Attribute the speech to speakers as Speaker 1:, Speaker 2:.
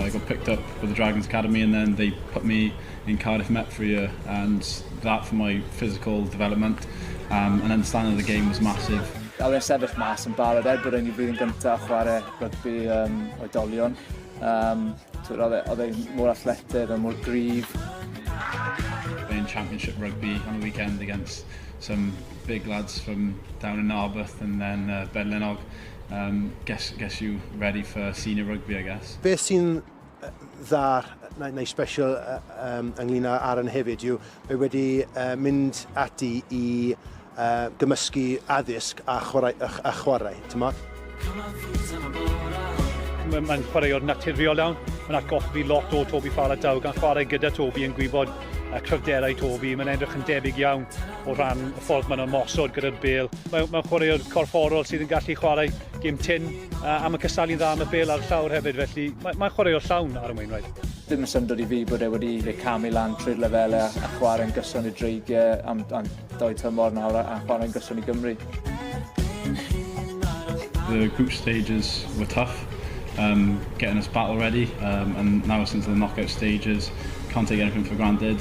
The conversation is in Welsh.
Speaker 1: I got picked up for the Dragons Academy and then they put me in Cardiff Met for a year and that for my physical development um, and understanding the game was massive. A fi'n sefyll mas
Speaker 2: yn barod er bod yn i flwyddyn gyntaf chwarae rygbi um, oedolion. Um, oedd e, e mor athletydd a mor gryf.
Speaker 1: Playing championship rugby on a weekend against some big lads from down in Narberth and then uh, Bedlenog. Umm gets gets you ready for senior rugby I guess. Beth sy'n
Speaker 3: dda neu special ynglyn â Aaron hefyd yw mae wedi mynd ati i gymysgu addysg a chwarae, t'mod?
Speaker 4: Mae'n chwaraewr naturiol iawn, mae'n atgoffa fi lot o Toby Faletau gan chwarae gyda Toby yn gwybod cryfderau Toby, mae'n edrych yn debyg iawn. o ran y ffordd maen nhw'n mosod gyda'r bel. Mae, mae chwaraewr corfforol sydd yn gallu chwarae gym tin uh, am y cysalu'n dda am y bel ar y llawr hefyd, felly mae, mae chwaraewr llawn ar y Wainwright. Ddim yn syndod i fi
Speaker 2: bod e wedi fe camu lan trwy'r lefelau a, a chwarae'n gyson i dreigiau am, am doi tymor nawr a, a chwarae'n gyson i Gymru.
Speaker 1: The group stages were tough, um, getting us battle ready, um, and now since the knockout stages, can't take anything for granted.